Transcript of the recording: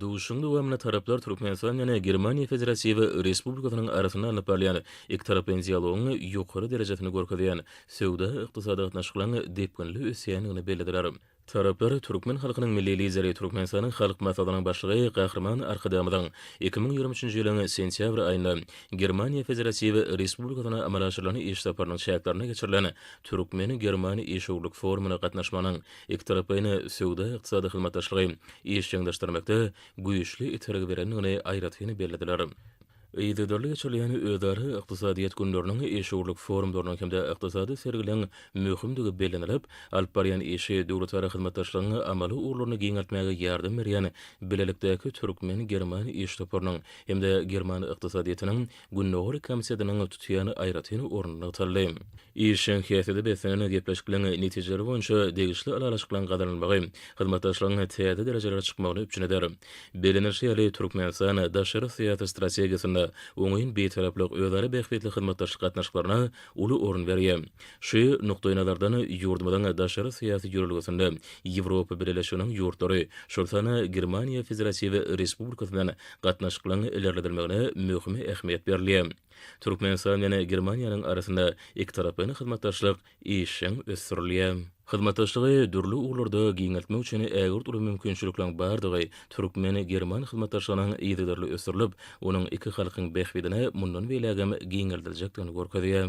Duşuşygyň dowamynda taraplar Türkmenistanyň Germaniýa Federatiw Respublikasynyň arasynda alnyp barylýan ikitaraplaýyn dialogyň ýokary derejesini görkezýän söwda-ykdysady gatnaşyklaryň depginli ösýändigini bellediler. Taraplar türkmen halkynyň Milli Lideri, Türkmenistanyň Halk Maslahatynyň Başlygy Gahryman Arkadagymyzyň iki müň ýigrimi üçünji ýylyň sentýabr aýynda Germaniýa Federatiw Respublikasyna amala aşyrylan iş saparynyň çäklerinde geçirilen türkmen-german işewürlik forumyna gatnaşmagynyň ikitaraplaýyn söwda-ykdysady hyzmatdaşlygy işjeňleşdirmekde güýçli itergi berendigini aýratyn bellediler. Yzygiderli geçirilýän özara ykdysadyýet günleriniň, işewürlik forumlarynyň hem-de ykdysady sergileriň möhümdigi bellenilip, alyp barýan işi döwletara hyzmatdaşlygyň amaly ugurlaryny giňeltmäge ýardam berýän bilelikdäki türkmen-german iş toparynyň hem-de german ykdysadyýetiniň Gündogar Komitetynyň tutýan aýratyn orny nygtaldy. Işjeň häsiýete beslenen gepleşikligiň netijeleri boýunça degişli ylalaşyklaryň gazanylmagy hyzmatdaşlygyň täze derejelere çykmagyny üpjün eder. Bellenilişi ýaly, Türkmenistan daşary syýasy strategiýasynda oňyn Bitaraplyk, özara bähbitli hyzmatdaşlyk gatnaşyklaryna uly orun berýär. Şu nukdaýnazardan, ýurdumyzyň daşary syýasy ýörelgesinde Ýewropa Bileleşiginiň ýurtlary, şol sanda Germaniýa Federatiw Respublikasyndan gatnaşyklaryň ilerledilmegine möhüm ähmiýet berilýär. Türkmenistan bilen Germaniýanyň arasynda ikitaraplaýyn hyzmatdaşlyk işjeň ösdürilýär. Hyzmatdaşlygy dürli ugurlarda giňeltmek üçin ägirt uly mümkinçilikleriň bardygy türkmen-german hyzmatdaşlygynyň yzygiderli ösdürilip, onuň iki halkyň bähbidine mundan beýlägem giňeldiljekdigini görkezýär.